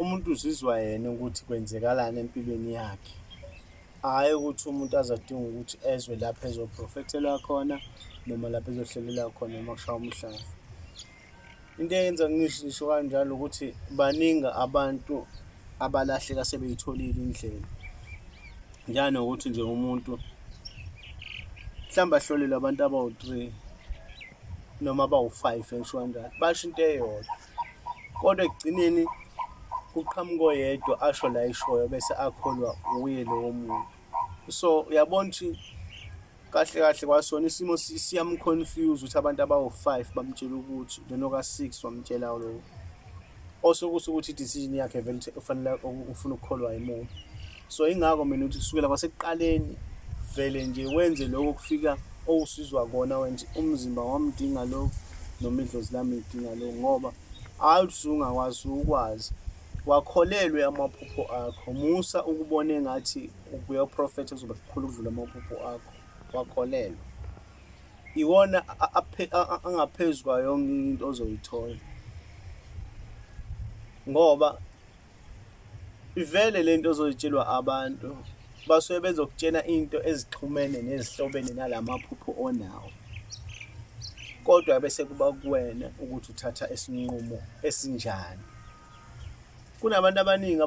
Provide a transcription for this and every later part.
umuntu uzizwa yena ukuthi kwenzekalani empilweni yakhe hhayi ukuthi umuntu azodinga ukuthi ezwe lapho ezoprofethelwa khona noma lapho ezohlelelwa khona uma kushaya umhlaba into eyenza ngisho kanjalo ukuthi baningi abantu abalahleka sebeyitholile indlela njanokuthi nje umuntu mhlawumbe ahlolelwe abantu abawu-three noma abawu-five ngisho kanjalo basho into eyodwa Kodwa ekugcineni kuqhamuka oyedwa asho la eshoyo bese akholwa uye lowo muntu. So uyabona ukuthi kahle kahle kwasona isimo siyamconfuse ukuthi abantu abawu-five bamtshela ukuthi lona oka-six wamtshela lowo. Osuke usuke ukuthi i-decision yakhe vele ufanele ufuna ukukholwa yimuphi. so ingakho mina ukuthi kusukela kwasekuqaleni vele nje wenze lokho kufika owusizwa kona wenje umzimba wamdinga lokhu noma idlozi lami lidinga lokhu ngoba hhayi ukuthi sungakwazi ukwazi wakholelwe amaphupho akho musa ukubona engathi ubuyoprofetha kuzoba kukhulu ukudlula amaphupho akho wakholelwa iwona angaphezu kwayo yonke into ozoyithola ngoba Ivele lento ozoyitshelwa abantu basuke bezokutshena into ezixhumene nezihlobene nalamaphupho onawo kodwa bese kuba kuwena ukuthi uthatha isinqumo esinjani kunabantu abaningi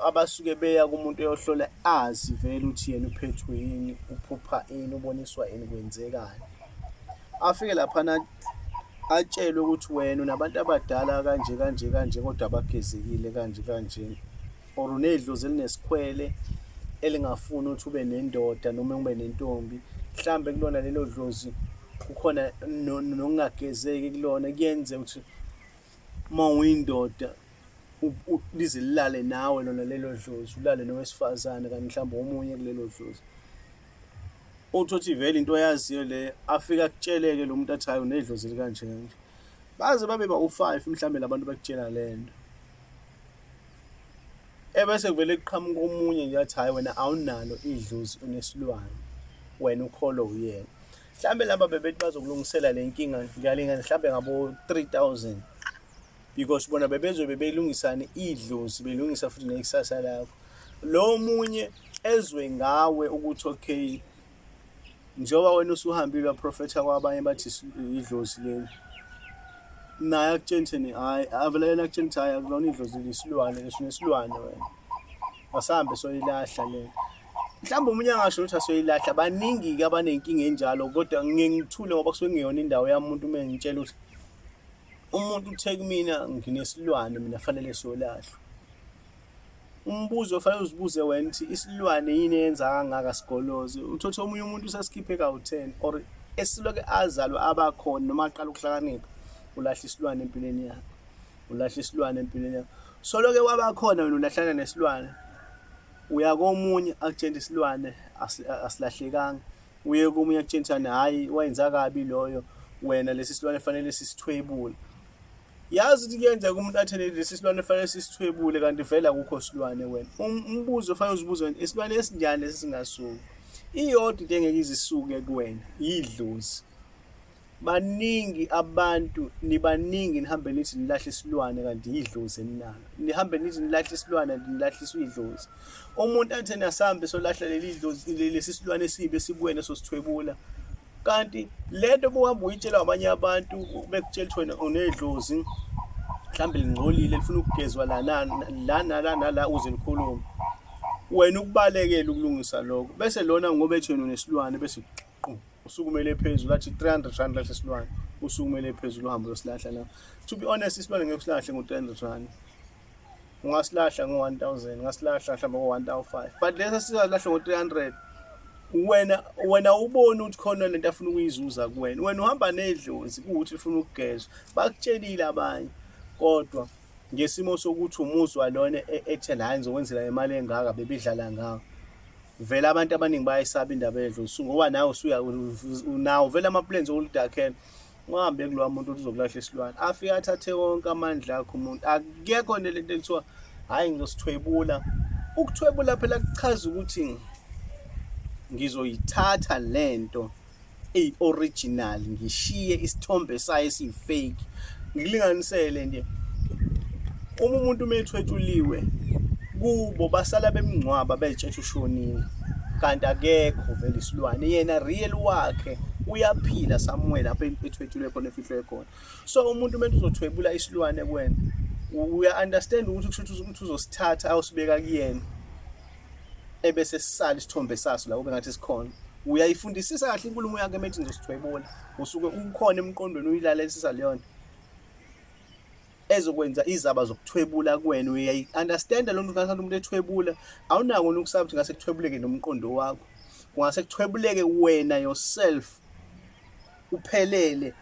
abasuke beya kumuntu oyohlola azi vele ukuthi yena uphethwe yini uphupha ini uboniswa yini kwenzekani afike laphana atshelwe ukuthi wena unabantu abadala kanje kanje kanje kodwa abagezekile kanje kanje or unedlozi elinesikhwele elingafuni ukuthi ube nendoda noma ube nentombi mhlambe kulona lelo dlozi kukhona nokungagezeki kulona kuyenze ukuthi uma uyindoda lize lilale nawe lona lelo dlozi ulale nowesifazane kanti mhlawumbe omunye kulelo dlozi uthi uthi vele into oyaziyo le afike akutsheleke lo muntu athayo nedlozi likanje kanje baze babe bawu-five mhlawumbe labantu bakutshela le nto ebese kuvele kuqhamuka omunye nje athi hhayi wena awunalo idlozi unesilwane wena ukholo uyena mhlawumbe laba bebethi bazokulungisela le nkinga ngalingane mhlawumbe ngabo-three thousand because bona bebezobe belungisane idlozi belungisa futhi nekusasa lakho lo munye ezwe ngawe ukuthi okay njengoba wena usuhambile waprofetha kwabanye bathi idlozi leli naye akutsheni thini hhayi avele yena akutsheni ukuthi hhayi akulona idlozi lisilwane lesunesilwane wena asahambe soyilahla lena mhlawumbe omunye angasho ukuthi asoyilahla baningi-ke abanenkinga enjalo kodwa ngingithule ngoba kusuke kungeyona indawo yami umuntu uma ngitshela ukuthi umuntu uthe kumina nginesilwane mina fanele siyolahlwa umbuzo ofanele uzibuze wena ukuthi isilwane yini eyenza kangaka sigoloze uthothe omunye umuntu usesikhiphe kawu-ten or esiloke azalwe abakhona noma aqala ukuhlakanipha ulahla isilwane empilweni yakhe ulahla isilwane empilweni yakhe soloke wabakhona wena ulahlana nesilwane uya komunye akutshela isilwane asilahlekanga uye komunye akutshela ukuthi ani hhayi wayenza kabi loyo wena lesi silwane fanele sisithwebule yazi ukuthi kuyenzeka umuntu athele lesi silwane fanele sisithwebule kanti vele akukho silwane wena um, umbuzo fanele uzibuze wena isilwane esinjani lesi singasuki iyodwa into engeke izisuke kuwena yidlozi baningi abantu nibaningi nihambe nithi nilahle isilwane kanti yidlozi eninalo nihambe nithi nilahle isilwane kanti nilahliswa idlozi umuntu athi nasambe solahla leli dlozi lesi silwane esibi esikuwena sosithwebula kanti lento buhamba uyitshela abanye abantu bekutshela ukuthi wena unedlozi mhlawumbe lingcolile lifuna ukugezwa lana la nala nala uze likhulume wena ukubalekela ukulungisa lokho bese lona ngoba ethi wena unesilwane bese qu usukumele phezulu athi 300 rand lahle silwane usukumele phezulu uhambe uyosilahla la to be honest isilwane ngeke usilahle ngo-300 rand ungasilahla ngo-1000 ungasilahla mhlawumbe ngo-1005 but lesa silahle ngo-300 wena wena ubone ukuthi khona lento afuna ukuyizuza kuwena wena uhamba nedlozi kuwuthi ufuna ukugezwa bakutshelile abanye kodwa ngesimo sokuthi umuzwa lona e-, ethe la ngizokwenzela imali engaka bebidlala ngawo vele abantu abaningi bayayisaba indaba yedlosu ngoba nawe usuya unawo vele ama-plans okulidakhela ungahambe kulowa muntu ukuthi uzokulahla isilwane afike athathe wonke amandla akho umuntu akekho nto lento ekuthiwa hhayi ngizosithwebula ukuthwebula phela kuchaza ukuthi ngizoyithatha le nto eyi original ngishiye isithombe sayo esiyifake ngilinganisele nje uma umuntu umethwetshuliwe kubo basala bemngcwaba betshethe ushonile kanti akekho vele isilwane yena real wakhe uyaphila somewhere lapho ethwetshulwe khona efihlwe khona so umuntu umuntu uzothwebula isilwane kwena uya understand ukuthi kusho ukuthi uzosithatha awusibeka kuyena ebese sisala isithombe saso la kube ngathi sikhona uyayifundisisa kahle inkulumo yakhe methi ngizosithwebula usuke ukhona emqondweni uyilalelisisa leyo nto ezokwenza izaba zokuthwebula kuwena uyayi-understanda loo nto ngathi umuntu ethwebula awunako nokusaba ukuthi ngase kuthwebuleke nomqondo wakho kungase kuthwebuleke wena yourself uphelele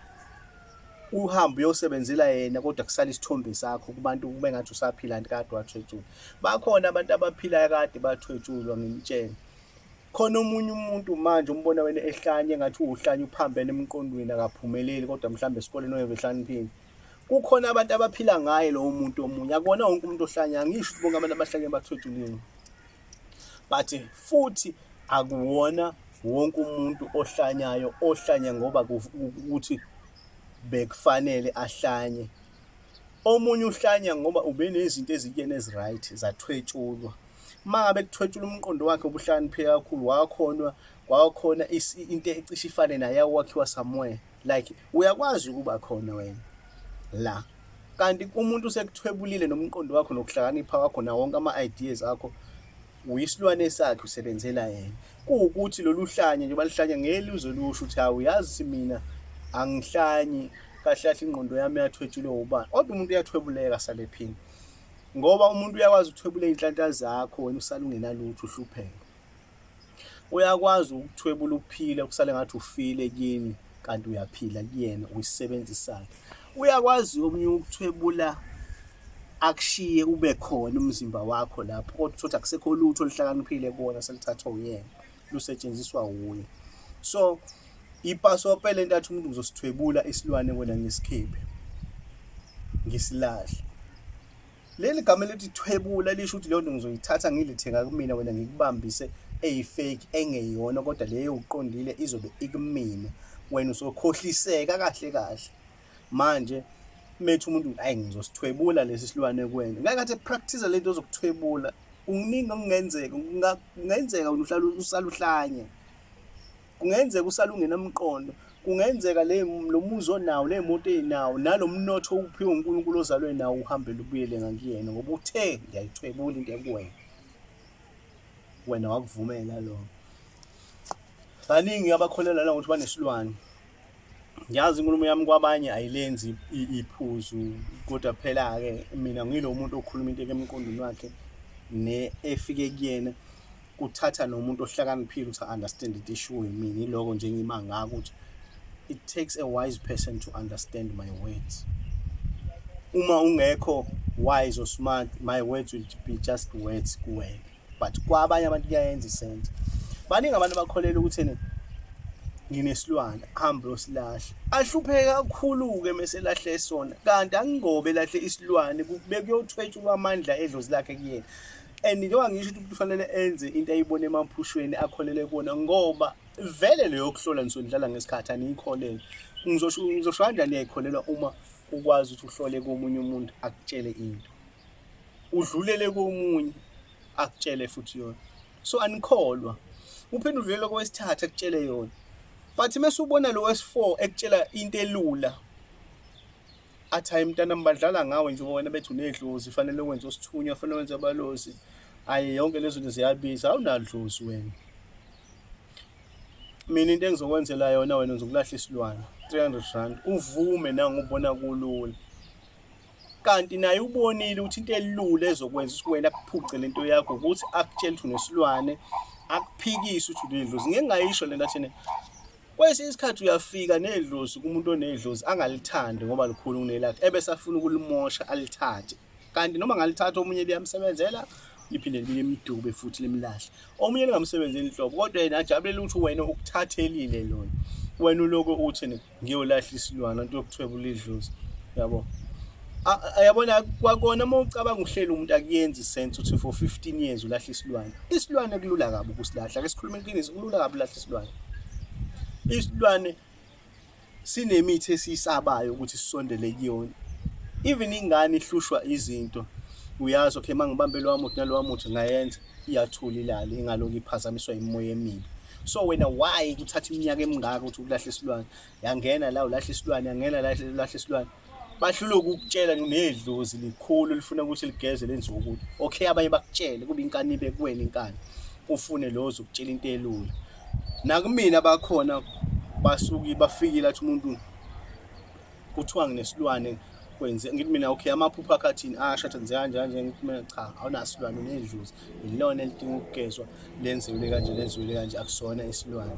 uhambe uyosebenzela yena kodwa kusale isithombe sakho kubantu kube ngathi usaphila kanti kade wathwetshulwa bakhona abantu abaphilayo kade bathwetshulwa ngimtshela khona omunye umuntu manje umbona wena ehlanye ngathi uwuhlanye uphambene emqondweni akaphumeleli kodwa mhlawumbe esikoleni oyeve ehlaniphini kukhona abantu abaphila ngaye lowo muntu omunye akona wonke umuntu ohlanya angisho bonke abantu abahlanye bathwetshulile but futhi akuwona wonke umuntu ohlanyayo ohlanya ngoba ukuthi bekufanele ahlanye omunye uhlanya ngoba ubenezinto ezikuyena eziright zathwetshulwa uma ngabe kuthwetshula umqondo wakhe ubuhlakanipheke kakhulu wakhona kwakhona into ecishe ifane naye awakhiwa somewhere like uyakwazi ukuba khona wena la kanti umuntu usekuthwebulile nomqondo wakho nokuhlakanipha wakho na wonke ama-ideas akho uyisilwane sakhe usebenzela yena kuwukuthi lolu hlanye nje baluhlanya ngelizwe lusho ukuthi hawu yazi mina angihlanyi kahle kahle ingqondo yami yathwetshulwe ubani kodwa umuntu uyathwebuleka sale phini ngoba umuntu uyakwazi ukuthwebula iy'nhlanhla zakho wena usalungenalutho uhlupheka Uyakwazi ukuthwebula uphile kusale ngathi ufile kini kanti uyaphila kuyena uyisisebenzi sakhe. Uyakwazi omunye ukuthwebula akushiye ube khona umzimba wakho lapho kodwa uthi akusekho lutho oluhlakaniphile kuwona selithathwa uyena lusetshenziswa wuye. So ipasope lento athi umuntu uzosithwebula isilwane wena ngisikhiphe ngisilahle leli gama elithi thwebula lisho ukuthi leyo nto ngizoyithatha ngilithenga kumina wena ngikubambise eyifake engeyona kodwa leyo uqondile izobe ikumina wena usokhohliseka kahle kahle manje methu umuntu ayi ngizosithwebula lesi silwane kuwena ngeke athi practice lento ozokuthwebula kuningi okungenzeka kungenzeka uhlala usaluhlanye kungenzeka usalungenamqondo kungenzeka le lo muzi onawo le moto eyinawo nalomnotho uphiwe uNkulunkulu ozalwe nawo uhambe lubuyele ngakuyena ngoba uthe ngiyayithwebula into ekuwena wena wakuvumela lokho baningi abakholelwa la ukuthi banesilwane ngiyazi inkulumo yami kwabanye ayilenzi iphuzu kodwa phela-ke mina ngilo muntu okhuluma into emqondweni wakhe ne efike kuyena kuthatha nomuntu ohlakaniphile ukuthi understand it ishiwo yimini iloko nje ngima ngako ukuthi it takes a wise person to understand my words uma ungekho wise or smart my words will be just words kuwena but kwabanye abantu kuyayenza isenzo baningi abantu bakholela ukuthi ene nginesilwane hambe usilahle ahlupheke kakhulu-ke meselahle sona kanti angingobe lahle isilwane bekuyothwetshulwa amandla edlozi lakhe kuyena and njengoba ngisho ukuthi umuntu ufanele enze into ayibona emaphushweni akholele kuwona ngoba vele leyo yokuhlola nisuke nidlala ngesikhathi aniyikholele ngizosho ngizosho kanjani uyayikholelwa uma ukwazi ukuthi uhlole komunye umuntu akutshele into udlulele komunye akutshele futhi yona so anikholwa uphinde udlulele kowesithathu akutshele yona but mese ubona lo wesi4 ekutshela into elula athi hayi mntanami badlala ngawe njengoba wena bethi unedlozi fanele wenze osithunywa fanele wenze abalozi hayi yonke lezo zinto ziyabiza awunadlozi wena mina into engizokwenzela yona wena ngizokulahla isilwane 300 rand uvume nangubona kulula kanti naye ubonile ukuthi into elula ezokwenza ukuthi wena kuphuce le nto yakho ukuthi akutshele ukuthi unesilwane akuphikise ukuthi unedlozi ngeke ngayisho le nto athene Kwesinye isikhathi uyafika nedlozi kumuntu onedlozi angalithandi ngoba likhulu kunelakhe ebese afuna ukulimosha alithathe kanti noma ngalithatha omunye liyamsebenzela liphinde libuye limdube futhi limlahle omunye lingamsebenzeli inhlobo kodwa yena ajabulela ukuthi wena ukuthathelile lona wena uloko uthi ngiyolahla isilwana into yokuthwebula idlozi yabo yabona kwakona uma ucabanga uhlela umuntu akuyenzi sense ukuthi for 15 years ulahla isilwane isilwane kulula kabi ukusilahla ke sikhuluma iqiniso kulula kabi ulahla isilwane isilwane sinemithi esiyisabayo ukuthi sisondele kuyona even ingane ihlushwa izinto uyazi okay mangibambe lo wamuthi nalo wamuthi ngayenza iyathula ilale ingaloku iphazamiswa imoya emibi so wena why kuthatha iminyaka emingaka ukuthi ukulahle isilwane yangena la ulahle isilwane yangena la ulahle isilwane bahlulwe ukukutshela nedlozi likhulu lifuna ukuthi ligeze lenziwe ukuthi okay abanye bakutshele kube inkani ibe kuwena inkani ufune lowo zokutshela into elula nakumina abakhona basuki bafikile athi umuntu kuthiwa nginesilwane kwenze ngithi mina okay amaphupho akhathini asho athi ngize kanje kanje ngithi mina cha awunasilwane unedlozi yilona elidinga ukugezwa lenziwile kanje lenziwile kanje akusona isilwane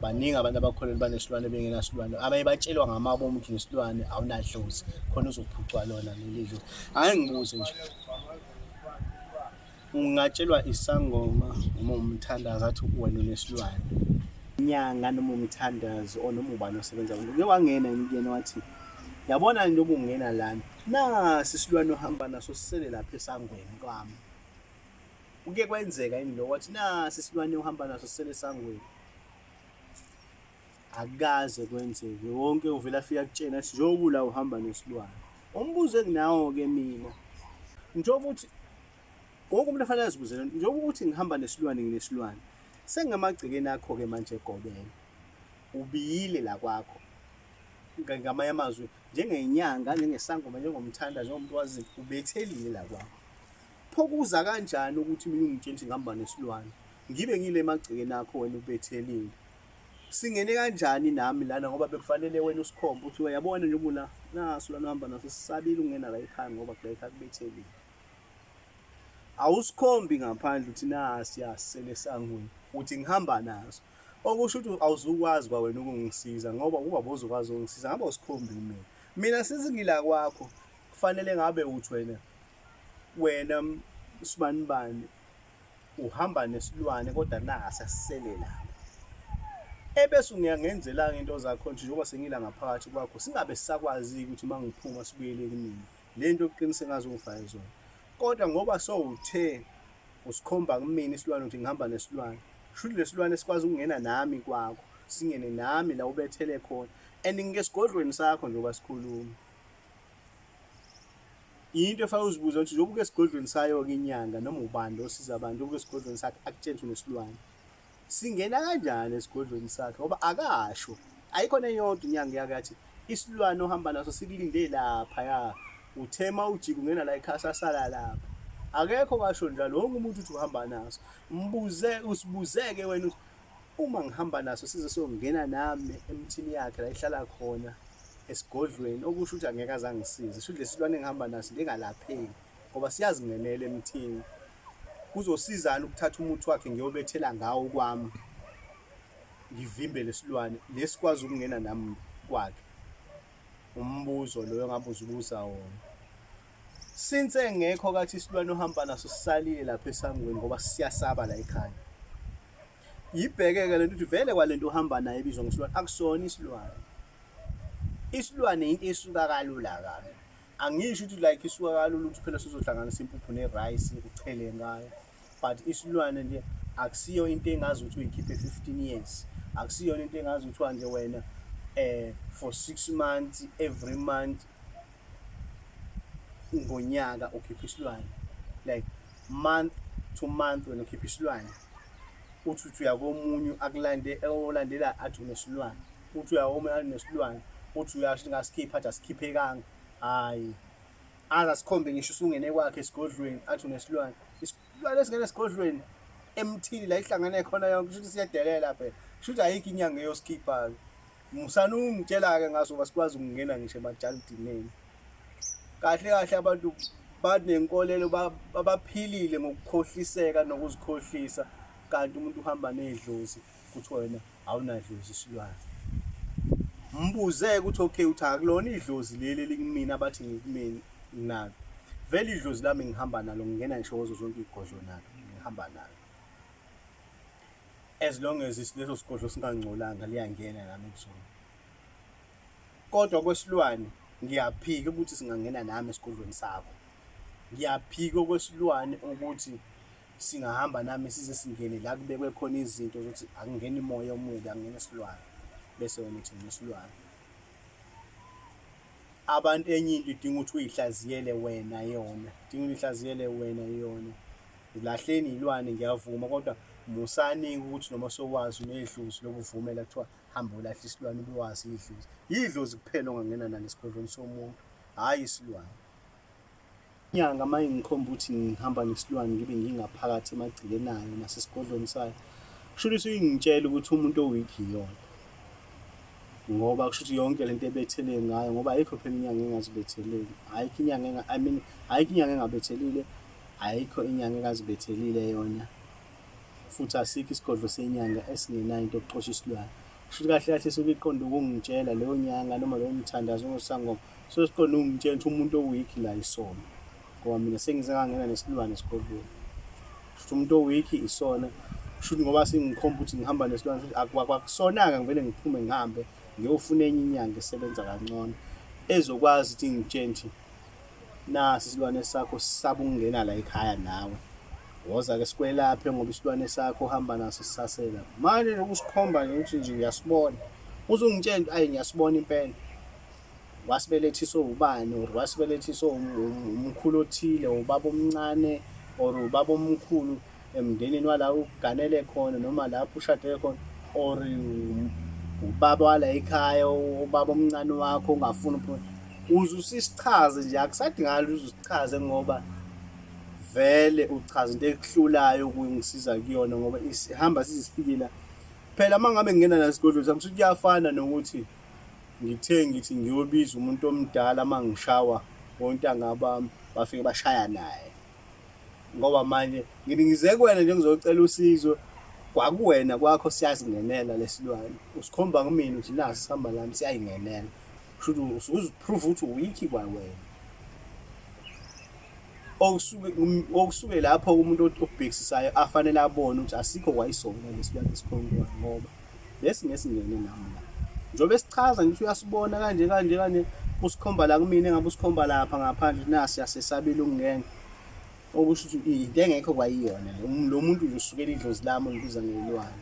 baningi abantu abakholelwa banesilwane bengenasilwane abaye batshelwa ngamabo omuntu nesilwane awunadlozi khona uzophucwa lona leli dlozi hhayi ngibuze nje ungatshelwa isangoma uma umthandazi athi wena unesilwane nyanga noma umthandazi or noma ubani osebenza uke wangena yena wathi yabona into okungena lana Nasi isilwane ohamba naso sisele lapha esangweni kwami. Kuke kwenzeka yini lokho wathi nasi isilwane ohamba naso sisele esangweni. Akukaze kwenzeke wonke uvela afika kutshena sithi njengoba la uhamba nesilwane. Umbuzo enginawo ke mina njengoba ukuthi wonke umuntu afanele azibuzele njengoba ukuthi ngihamba nesilwane nginesilwane sengamagcekeni akho ke manje egobela ubiyile la kwakho ngamanye amazwi njengenyanga njengesangoma njengomthanda njengomuntu wazi ubethelile la kwakho pho kuza kanjani ukuthi mina ungitshela ukuthi ngihamba nesilwane ngibe ngile emagcekeni akho wena ubethelile singene kanjani nami lana ngoba bekufanele wena usikhombe ukuthi uyabona nje ubula naso lana uhamba naso sisabile ukungena la ekhaya ngoba kula ekhaya kubethelile awusikhombi ngaphandle uthi nasi yasele sangweni uthi ngihamba naso okusho ukuthi awuzukwazi kwawena ukungisiza ngoba ukuba bozokwazi ukungisiza ngabe usikhombi mina mina since ngila kwakho kufanele ngabe uthi wena wena sibani bani uhamba nesilwane kodwa nasa sisele lapha ebese ungiyangenzela-ke into zakho nje njengoba sengila ngaphakathi kwakho singabe sisakwazi-ke ukuthi uma ngiphuma sibuyele kunini le nto uqiniseka ngaze ungifake zona kodwa ngoba sowuthe usikhomba kumina isilwane ukuthi ngihamba nesilwane shuthi lesilwane sikwazi ukungena nami kwakho singene nami la ubethele khona and ngike sigodlweni sakho njengoba sikhuluma yinto efake uzibuze ukuthi njengoba uke esigodlweni sayo-ke inyanga noma ubani osiza abantu uke esigodlweni sakhe akutshele ukuthi unesilwane Singena kanjani esigodlweni sakhe ngoba akasho. Ayikho neyodwa inyanga yakathi isilwane ohamba naso sikulinde lapha ya. Uthema ujika ungena la ekhasa sala lapha. Akekho kasho njalo wonke umuntu uthi uhamba naso. Mbuze usibuzeke wena uthi uma ngihamba naso size songena nami emthini yakhe la ihlala khona esigodlweni okusho ukuthi angeke azangisize. Shuthi lesilwane engihamba naso lengalapheki ngoba siyazingenela emthini. Kuzosizani ukuthatha umuthi wakhe ngiyobethela ngawo kwami ngivimbe lesilwane lesikwazi ukungena nami kwakhe umbuzo loyo ngabuza ubuza wona since engekho kathi isilwane ohamba naso sisalile lapha esangweni ngoba siyasaba la ekhaya yibheke-ke le nto ukuthi vele kwale nto ohamba nayo ebizwa ngesilwane akusona isilwane isilwane yinto esuka kalula kabi angisho ukuthi like isuka kalula ukuthi phela sizohlanganisa impuphu nerice uchele ngayo but isilwane nje akusiyo into engazi ukuthi uyikhiphe 15 years akusiyona into engazi kuthiwa nje wena eh for 6 months every month ngonyaka ukhipha isilwane like month to month wena ukhipha isilwane uthi uthi uyakomunye akulande olandela athi unesilwane uthi uyawoma nesilwane uthi uyasho ngasikhipha athi asikhiphekanga hayi aze asikhombe ngisho usungene kwakhe esigodlweni athi unesilwane isilwane esingene esigodlweni emthini la ihlangane khona yonke kusho ukuthi siyadelela phela kusho ukuthi ayikho inyanga eyosikhipha-ke musani ungitshela-ke ngaso uba sikwazi ukungena ngisho emajalidineni kahle kahle abantu banenkolelo babaphilile ngokukhohliseka nokuzikhohlisa kanti umuntu uhamba nedlozi Kuthiwa wena awunadlozi isilwane. Mbuze-ke ukuthi okay uthi akulona idlozi leli elikumina abathi ngikumini nalo. Vele idlozi lami ngihamba nalo ngingena ngisho kuzo zonke izigodlo nalo ngihamba nalo. As long as leso sigodlo singangcolanga liyangena nami kuzona. Kodwa kwesilwane ngiyaphika ukuthi singangena nami esigodlweni sakho. Ngiyaphika okwesilwane ukuthi singahamba nami size singene la kubekwe khona izinto zokuthi akungeni moya omubi akungena isilwane bese wena uthi nginesilwane abantu enye into idinga ukuthi uyihlaziyele wena yona idinga uyihlaziyele wena yona lahleni yilwane ngiyavuma kodwa musani ukuthi noma sowazi unedlozi lokuvumela kuthiwa hamba ulahle isilwane ubewazi idlozi yidlozi kuphela ongangena nalo esigodlweni somuntu hhayi isilwane Inyanga uma ingikhomba ukuthi ngihamba nesilwane ngibe ngingaphakathi emagcekeni ayo nasesigodlweni sayo kusho ukuthi ingitshela ukuthi umuntu oweak iyona ngoba kusho ukuthi yonke lento ebetheleke ngayo ngoba ayikho phela inyanga engazibetheleli ayikho inyanga enga I mean ayikho inyanga engabethelile ayikho inyanga engazibethelile yona futhi asikho isigodlo senyanga esingenayo into yokuxosha isilwane shuthi kahle kahle suke iqonde ukungitshela leyo nyanga noma lowo mthandazo ongosangoma so siqonde ukungitshela ukuthi umuntu oweak la isona ngoba mina sengize ngangena nesilwane esigodlweni shuthi umuntu oweak isona shuthi ngoba singikhomba ukuthi ngihamba nesilwane futhi akwakusona-ke ngivele ngiphume ngihambe ngiyofuna enye inyanga esebenza kangcono ezokwazi ukuthi ngitshentshi nasi isilwane sakho sisaba ukungena la ekhaya nawe woza ke sikwelaphe ngoba isilwane sakho uhamba naso sisasela manje nokusikhomba nje ukuthi nje uyasibona uzungitshela into ayi ngiyasibona impela wasibelethiswe ubani or wasibelethiswe umkhulu othile ubaba omncane or ubaba omkhulu emndenini wala uganele khona noma lapho ushade khona or ubaba wala ekhaya ubaba omncane wakho ungafuni uphuma uze usichaze nje akusadingakala uze usichaze ngoba vele uchaza into ekuhlulayo ukungisiza kuyona ngoba ihamba sizifikela phela uma ngabe ngingena nasigodlo sami ukuthi kuyafana nokuthi ngithe ngithi ngiyobiza umuntu omdala uma ngishawa ontanga bami bafike bashaya naye ngoba manje ngithi ngize kuwena nje ngizocela usizo kwakuwena kwakho siyazingenela lesilwane usikhomba kumina ukuthi nasi sihamba lami siyayingenela kusho ukuthi usuziprove ukuthi uwikhi kwawena okusuke okusuke lapho umuntu obhekisayo afanele abone ukuthi asikho kwayisona lesilwane esikhomba ngoba lesi ngesingene nami la njengoba esichaza ngithi uyasibona kanje kanje kanje usikhomba la kumina engabe usikhomba lapha ngaphandle nasi yasesabile ukungena okusho ukuthi into engekho kwayiyona lo muntu nje usukela idlozi lami olibiza ngelwane